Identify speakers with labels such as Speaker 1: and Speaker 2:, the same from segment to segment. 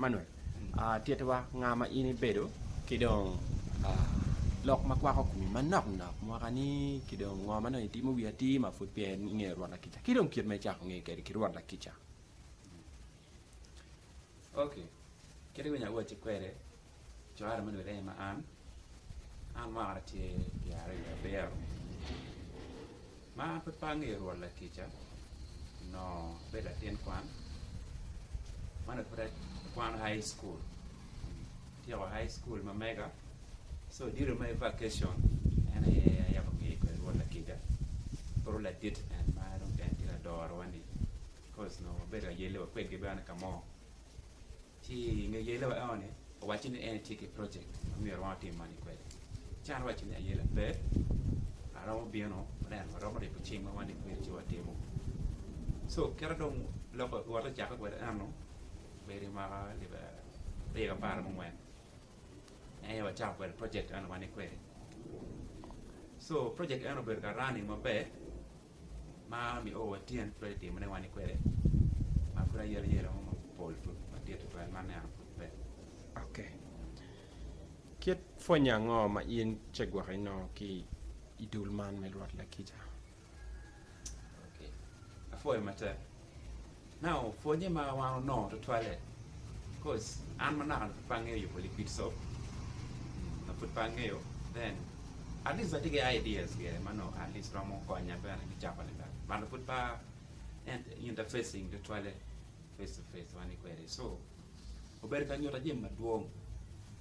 Speaker 1: Manuel, tittiwa nga ma in ibedo ki dong lok ma kwako komi manok nok mwaka ni ki dong ngo ma dong itimo wi atir ma pud peya ingeyo rwot lakica ki dong kit ma icako ngeyo kwede ki rwot lakica.
Speaker 2: Ok kit ma nya awacci kwede Cware me lwodde aye ma an, an mwaka na tye pyeraryo wiye abiro. Ma an pud pe angeyo Rwot lakica, onongo abedo latin kwan, ma onongo pud akwano high school. Atyeko high school ma mega, so odilo me vacation en aye ayabo ngeyo kwede Rwot lakica, pud ladit en ma dong en tye ka dorowa-ni, coz onongo wabedo ka yelle wa kwedgi bene ka mo. Ci i nge yele wa eno-ni owacci ni en tye ki project ma myero wan watim money kwede. Ci an awacci ni ayela pe, aromo bino aneno waromo ribo cing ma wan i kwiri ci watimo. So kite dong loko wot ocake kwede eno obedo i mwaka alip aryo ki apar ki mungwen en aye wacako kwede project eno wan i kwiri. So project eno obedo ka running maber. ma nio watyen pud atitimo ne wani kwede ma pud ayelo yelo mo mapol pud madit tutwal ma aneno pud pe. Ok.
Speaker 1: Kit pwonye ango ma in ce gwok inongo ki i dul man me Rwot Lakica?
Speaker 2: Ok. Apwoyo matek. Now pwonye ma wan onongo tutwalle coz an ma naka pud pe angeyo yubo liquid soap nyo pud pe angeyo then at least atye ki ideas ge ma nongo at least romo konya bene me cako lamal but pud pe interfacing tutwalle face to face one kwede so obedo ka nyuta jami madwong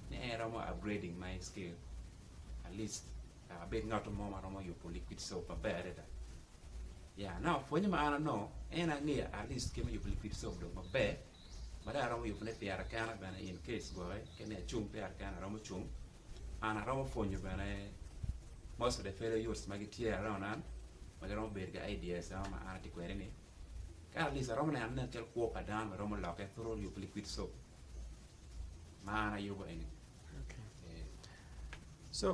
Speaker 2: ni en romo upgrading my skill at least Abed ngat mo ma romo yubo liquid soap maber adada. Ya, aneno pwonye ma an anongo en angeyo at least kit me yubo liquid soap dong maber ma dong aromo yubone pyera kena bene in case gwocke kene acung pyera kena aromo cung. An aromo pwonyo bene most of the fellow youths ma gitye around an ma giromo bedo ki ideas ma an atye kwede ni. Ka at least aromo neno nen calo kwo pa dano bene romo lokke through yubo liquid soap ma an ayubo eni.
Speaker 1: Co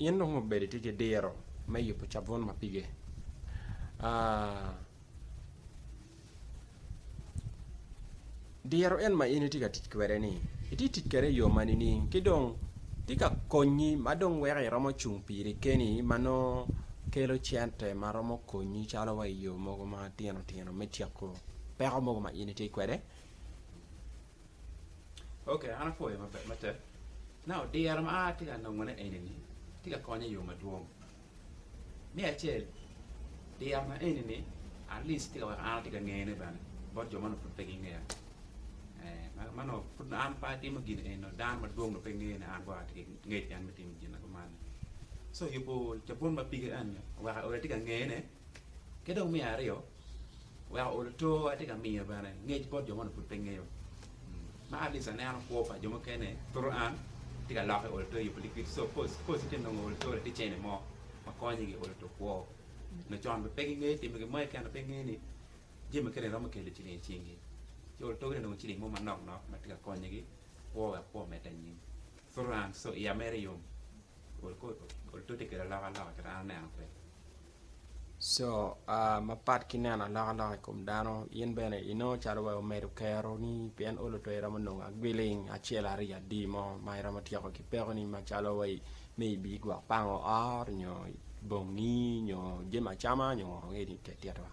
Speaker 1: in dong obedo itye ki diro me yubo cabun ma pige aa diro en ma in itye ka tic kwede ni itye tic kwede iyo ma nining ki dong tye ka konyi ma dong weko iromo cung piri keni ma nongo kelo cente ma romo konyi calo wa iyo mogo matino tino me tyeko peko mogo ma in itye kwede.
Speaker 2: Ok, an apwoyo maber matek. Now, diro ma atye ka nongone eni-ni tye ka konya i yo madwong. Me acel, diro na eni-ni at least tye ka weko an atye ka ngene bene bot jo ma nongo pud pe gingeya. Eh, ma- ma nongo pud an pe atimo gin eni nongo dano madwong nongo pe ngene an gwok atye ki ngec keken me timo gin na kuman-ni. So, yubo cabun ma pige eni oweko aoda tye ka ngene. Ki dong me aryo, wek ool to, atye ka miyo bene ngec bot jo ma onongo pud pe ngeyo. Ma at least aneno kwo pa jo mukene thuru an tye ka lokke ool to i yubo likit. So first, first ite nongo ool to laticene mo ma konyogi ool to kwo. Nyo con bene pe gingeyo timo gin mo keken dok pe gingeyo ni jami mukene romo kelo ciling i cingi. Ci ool togi te nongo ciling mo manok nok ma tye ka konyogi kwo wek kwo omedde anyim. Thuru an, so iya mere yom. Co
Speaker 1: mapat ki neno alokaloka i kom dano in bene inongo calo wa omedo keroni pien olo pe iromo nongo agwiling acel aryo adi mo ma iromo tyeko ki pekoni macalo wai ni ibi gwok pango ot nyo bongi nyo jami acama nyo ngo ange ni tek tyet wa.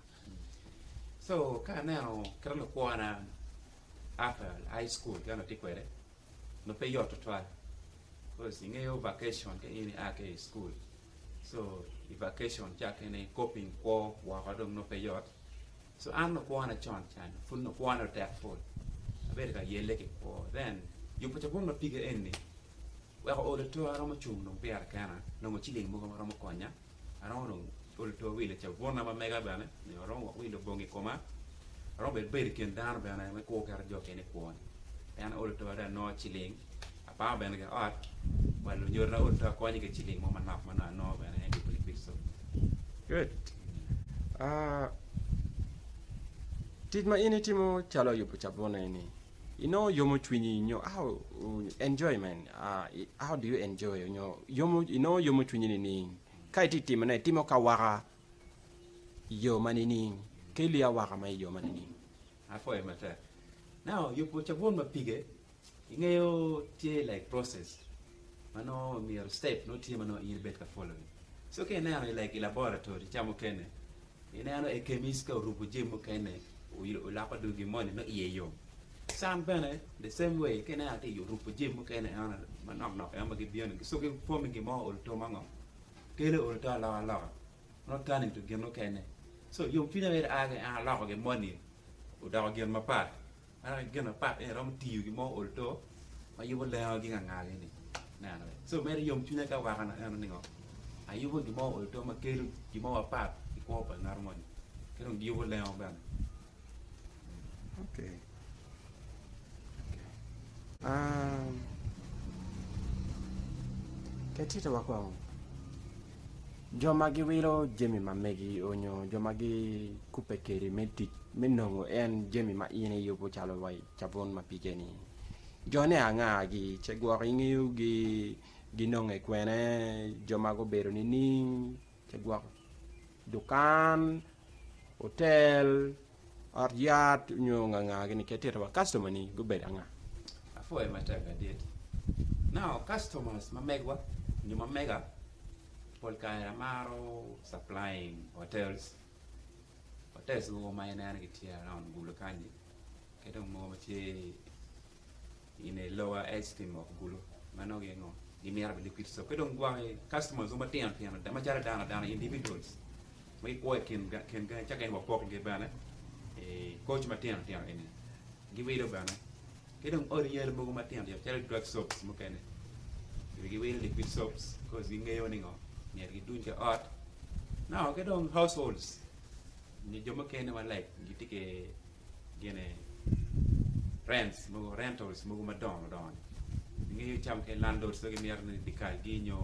Speaker 2: nongo pe yot tutwal coz ingeyo vacation ka in ia ki i school so i vacation ca kene coping kwo woko dong nongo pe yot so an nongo kwona con ca ni pud nongo kwona otek pol abedo ka yelle ki kwo then yubo cabun ma pige eni wek ool ature aromo cung dong pire kena nongo ciling mogo ma romo konya. Aromo dong olo tor wil cabun na ma mega bene nyo aromo wok wilo bongi i koma aromo bene bedo i kin dano bene me kwo keto jo kene i kwoni en aolo tor ado anongo ciling apamo bene ki ot wa lunyodo na olo tor akonyo ki ciling mo manok ma nongo anongo bene me yubo lipico good
Speaker 1: aa tic ma in itimo calo yubo cabun eni Inongo yomo cwinyi nyo how enjoyment how do you enjoy nyo yomo inongo yomo cwinyi nining ka itye timo ne itimo ki awaka i yo ma
Speaker 2: nining
Speaker 1: ki ilyo awaka ma i yo
Speaker 2: ma nining.
Speaker 1: Apoyo
Speaker 2: matek.
Speaker 1: Now
Speaker 2: yubo cabun ma pige ingeyo tye like process ma nongo myero step nongo tye ma nongo in ibed ka follow ni so ka ineno like i laboratory ca mukene Ineno i kemis ka oruko jami mukene oloko dogi moni nongo iye yom. Can bene the same way ka ineno atir oruko jami mukene eno manok nok eno ma gibino ni so gipwo me gin mo olo to ma ngo kelo olo to aloka loka not turning to gin mukene. So yom cwiny aye aa ki en aloko gin moni odoko gin mapat. Aneno ki gin mapat ni iromo tiyo ki mo ol to ma yubo lengo gi ngangagi ni neno ni so mere yom cwinya ki awaka na eno ningo ayubo gin mo ol to ma kelo gin mo mapat i kwo pa ngat moni ki dong giyubo lengo bene. Okay.
Speaker 1: Okay. Um, ketito wa kong. Jo ma giwilo jami ma megi onyo jo ma gikubbe kedi me tic me nongo en jami ma in iyubo calo wa i cabun ma pige-ni. Jone anga gi, ce gwok ingeyo gi ginonge kwene, jo ma gubedo nining, ce gwok dukan, otel, Ot yat onyo nganga gini ki atita wa customer ni gubedo anga? Apwoyo
Speaker 2: matek adit. Now customers ma megwa nyo ma mega pol kare amaro supplying hotels, hotels mogo ma ineno gitye around gulu kanyi kidong mogo ma tye I ne lower esteem of gulu mano aye ngo gi mito bene liquid soap ki dong gwaki customers mo matino tino ada macalo dano adana individuals ma gi kwo I kin kin gangi ca gin wa poko gi bene I coach matino tino eni gi wilo bene ki dong odi yale mogo matino tino calo drug soaps mukene bene gi wilo liquid soaps coz gi ngeyo ni ngo myero gi duny ki ot nongo ki dong households nyo jo mukene ma like gi tye ki gine rents mogo rentals mogo madongo dongo ni ingeyo cawa mukene landlord pe gimito ni dikal gi nyo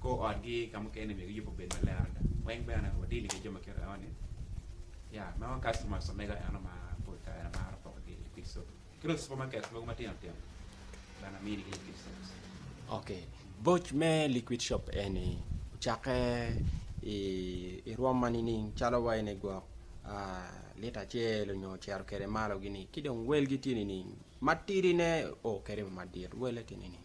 Speaker 2: kor ot gi ka mukene myero giyub obed maler adada weng bene wa deal ki jo ma kite enoni ya meno customers omega eno ma pol kare maro poko gi i wi sobi ki dong cipermarket mogo matino tino bene amiyo ni ki liquid soaps. Ok
Speaker 1: boc me liquid shop eni ocakke i rwom ma nining calo wa ene gwok lita acel onyo ocito kwede malo gini ki dong welgi tye nining matidi ne o kwede madit wele tye nining.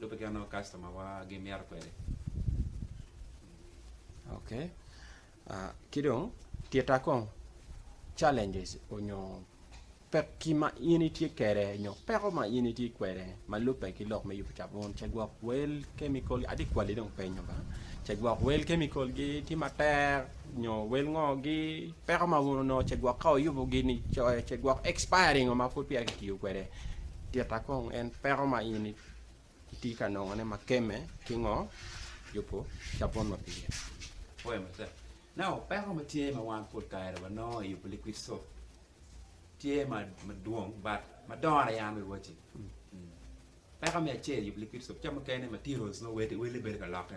Speaker 2: Lube kit ma kastomawa gimito kwede.
Speaker 1: Ok, ki dong tita kong challenges onyo pekki ma in itye kwede nyo peko ma in itye kwede ma lubbe ki lok me yubo cabun, cagwok wel, chemical, atye ka kwali dong penyo ba, cagwok wel, chemical-gi tye matek. nyo wel ngo gi peko ma gun onongo ce gwok ka oyubo gin ni coyo ce gwok expire ringo ma pud peya kitiyo kwede tita kong en peko ma in iti ka nongo ne ma keme ki ngo yubo cabun ma pire oyo ma tek
Speaker 2: now peko ma tye ma wan pol kare wa nongo yubo liquid soap tye ma dwong but ma dongo aye an wacci peko me acel yubo liquid soap ca mukene materials nongo wele bedo ka lokke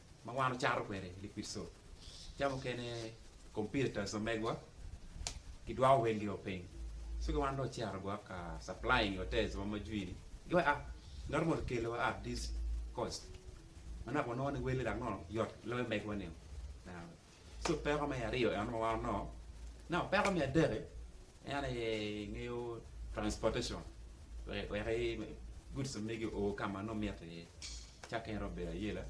Speaker 2: ma wan wacato kwede i Likristo, ca mukene computers omegwa gidwoko wel gio piny so ki wan dong wacito gwa ka supplying hotels wa ma jwi ni gua a ngat mo okelo wa at this cost ma naka wanongo ni wel ni dok nongo yot loyo megwa nio. ci opeko me aryo eno ma wano nongo opeko me adek-ki en aye ingeyo transportation wek guds omegi o ka ma nongo mitte iye cake en romo bedo ayela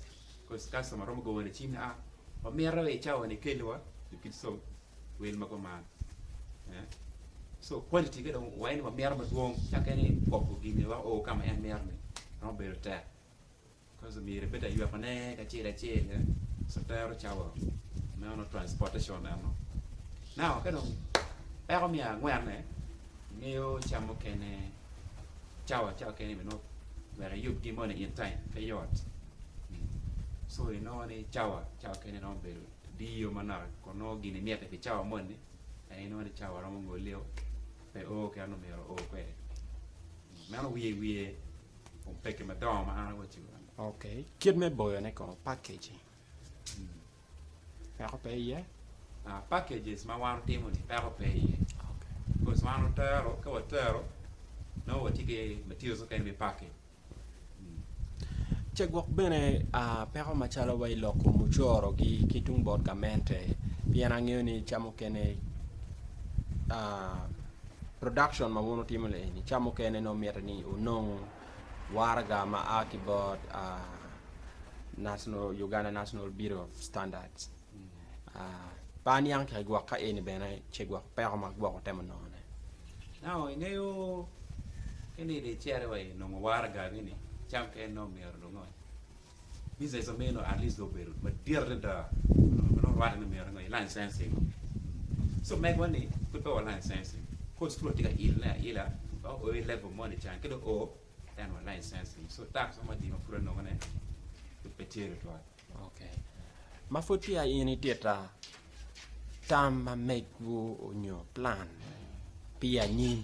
Speaker 2: cos kastoma romo goyo ni cim ni a wamito i cawa-ni ikelliwa lukit com wel ma guman co quality-ne dong waye ni wamito madwong cake ni koko gin aye weko o ka ma en mito-ni romo bedo tek. Kazimir pe ta yweko ne kacel acel eh sotero cawa meno transportation eno now ka dong peko me angwen eh ingeyo cam mukene cawa cawa kene me nongo wek iyub gi moni in time pe yot so inongo ni cawa cawa kene romo bedo diyo manok kun nongo gin imite pi cawa moni en inongo ni cawa romo ngoleo pe oo kit ma myero oo kwede meno wiye wiye Kit me
Speaker 1: boyone kono,
Speaker 2: packaging, peko pe iye?
Speaker 1: Ce gwok bene peko macalo wa i loko mucoro-gi ki tung bot gamente pien angeyo ni ca mukene Production ma wun wutimo ni eni ca mukene nongo mitte ni wunong waraga ma a ki bot uh, national, Uganda National Bureau of Standards. Uh, pa aniang tika igwok ka eni bene ce gwok peko ma gwok utemo nongone. Now,
Speaker 2: ingeyo keni di cere wa inongo waraga gini, cam kene nongo myero lungo. Business ma meno at least dong obedo madit adada ma nongo rwatte ni mito ni licensing. So megowa ni pud pewa licensing. Kor school watye ka ile aila ma o i level moni can ki dong o en wa licensing. So tax mo madi ma pud anongo ne pud pe tye tutwal. Okay.
Speaker 1: Ma pud peya in itita tam ma megwu onyo plan pi anyim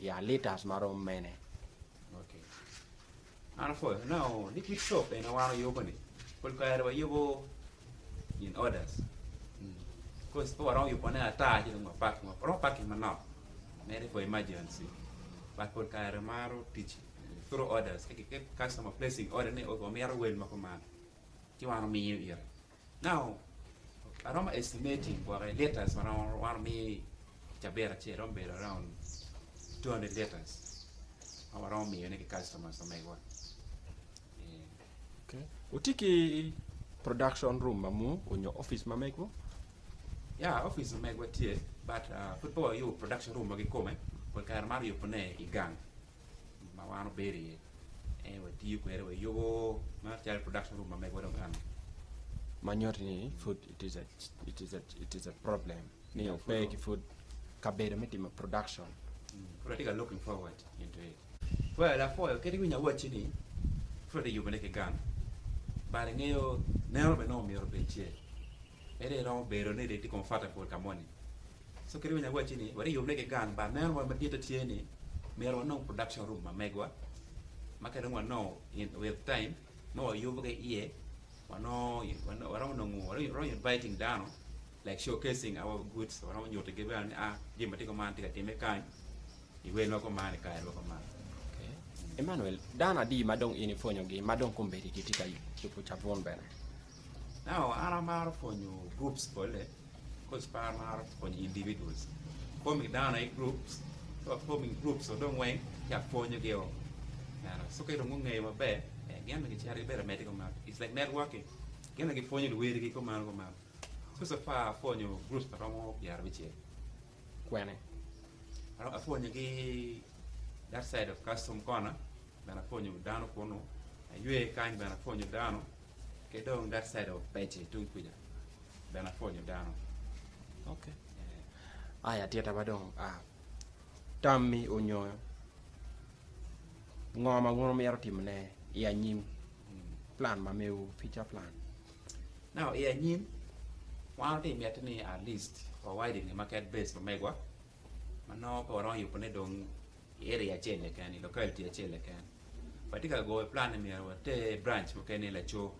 Speaker 1: Ya litas marom mene?
Speaker 2: Man pol anongo ni kit soap eni wan oyubo ni pol kare wa yubo in orders coz pe waromo yubo ne ata ci dong wa packing waromo packing manok mere for emergency but pol kare maro tic through orders ka customer placing order ni omito wel ma kuman ci wan omiyo ite. Now, aromo estimating gwoke litres ma romo waromo mi cabit acel romo bedo around two hundred litres ma waromo miyo ne ki customers ma megwa. Okay.
Speaker 1: Wuti ki production room ma mu onyo office ma megwu? Ya,
Speaker 2: office ma megwa tye but uh, pud pe wayubo production room ma gikome, pol kare maro yubo ne i gang. ma wan obedo iye ento watiyo kwede wa yubo macalo production room ma megowa dong kany ma
Speaker 1: nyuto ni food it is a, it is a, it is a problem ni yeah, ope ki food kabedo me timo production mm. pud atye ka
Speaker 2: looking forward into it well apoyo kadi winyo awaci ni pud atye yubone ki gang bade ngeyo neno bene nongo myero obed ce ede iromo bedo ni comfortable ka moni So kadi bed nyo awacci ni watye yubbe ki gang but meno wa maditte tye ni myero wanong production room ma megwa ma ka dong wanongo in with time nongo wayubo ki iye wanongo waromo nongo waromo inviting dano like show casing our goods waromo nyutigi bene ni a jami matye kuman tye ka timme kany i wel ma kuman i kare ma kuman ok.
Speaker 1: Emmanuel, dano adi ma dong in ipwonyogi ma dong kombeddi gitye ka yubo cabun bene? Now
Speaker 2: an amaro pwonyo groups bolle coz pe amaro pwonyo individuals, forming dano i groups ci wa forming groups wa dong weng ci apwonyo gi o meno ci ka dong gungeyo maber gin bene gicito gibedo amedi kuman it's like networking gin bene gipwonyo luwotgi kumalo kumalo so so far apwonyo groups ma romo pyerabicel. kwene? Adok apwonye ki that side of custom corner bene apwonyo dano kunu, aywe kany bene apwonyo dano, ki dong that side of Pece tung kuca bene apwonyo dano. Okay.
Speaker 1: Yeah. Aya tita ba dong ah, tammi onyo ngo ma wun omito timone i anyim, hmm. plan ma mewu, future plan? Now
Speaker 2: i anyim, wan watye i miti ni at least wawide nge market base pa megwa ma nongo pe waromo yubo ne dong i area acel keken, i locality acel keken. Watye ka goyo plan ni myero water branch mukene laco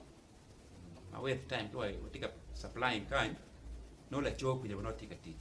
Speaker 2: ma with time ka watye ka supplying kany nongo laco kwinyo nongo tye ka tic.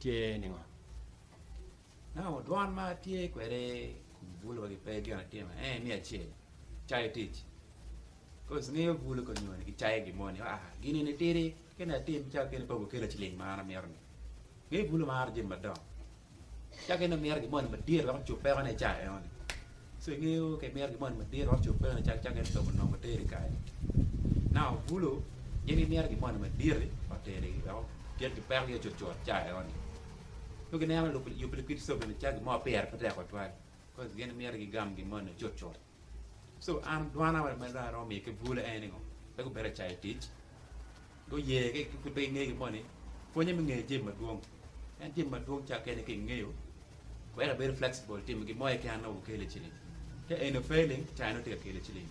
Speaker 1: Tye ningo?
Speaker 2: Nongo dwan ma atye kwede kun bulu wagi pe gin atimo en aye me acel cayo tic. Cause ngeyo bulu ka onyone ki cayo gin moni ah gini ni tidi kene atim ca kene pe obukela ciling ma an amito ni. Ngeyo bulu maro jami madongo. Ca kene omito gin moni madit wek ocup peko ne i cayo eno ni. Cengeo ka imito gimoni madit wek ocub bene cak cak en ocub onongo oteri kany. Now bulu in imito gimoni madit-ti oteri wek otyek ki pekogi cut cut cawa enoni. Nongo gineno lub yubu likwid co bene cak gin mo pire pe tek tutwal coz gin miti gigam gin moni cut cut. So an dwana ma dong aromo miyo ki bulu en ni ngo pe gubedo cayo tic. Guye ki pud pe gingeye gin moni pwonye me ngeyo jami madwong en jami madwong cakke ni ka ingeyo weko ibedo flexible timo gin mo keken nongo gikelo i ciling ka eni ofeli cai nongo tye ka kelo i ciling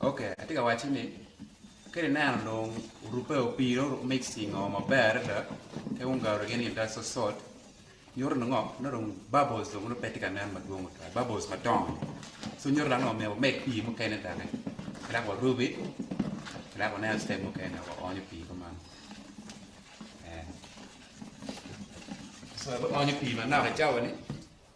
Speaker 2: Ok, atye ka wacci ni ka ineno dong orubbe o pii dong oruk mixing o maber adada ki ungalo gin i te sosot nyuto ni ngo nongo dong bubbles dong nongo pe tye ka nen madwong tutwal bubbles madongo so nyuto dok ni myero wamed pii mukene doki ka dok warubi ka dok waneno step mukene dok waonyo pii kuman ee so ibi onyo pii manok icawa ni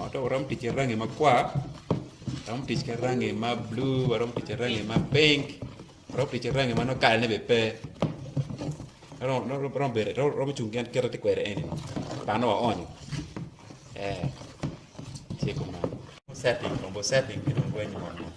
Speaker 2: Ento waromo tic ki rangi makwar, waromo tic ki rangi ma bulu, waromo tic ki rangi ma pink, waromo tic ki rangi ma nongo kalane bene pe. Romo cung gin kit ma atye kwede eni, panne waonyo ee tye kuman. Setting omyero setting ki dong reny mot mot.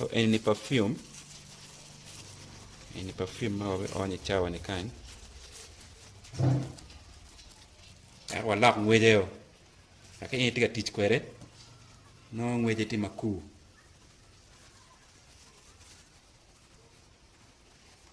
Speaker 2: so eni perfume eni perfume ma wabiony i cawa ni kany ento walok ngwece o ka in itye ka tic kwede nongo ngwece tye makur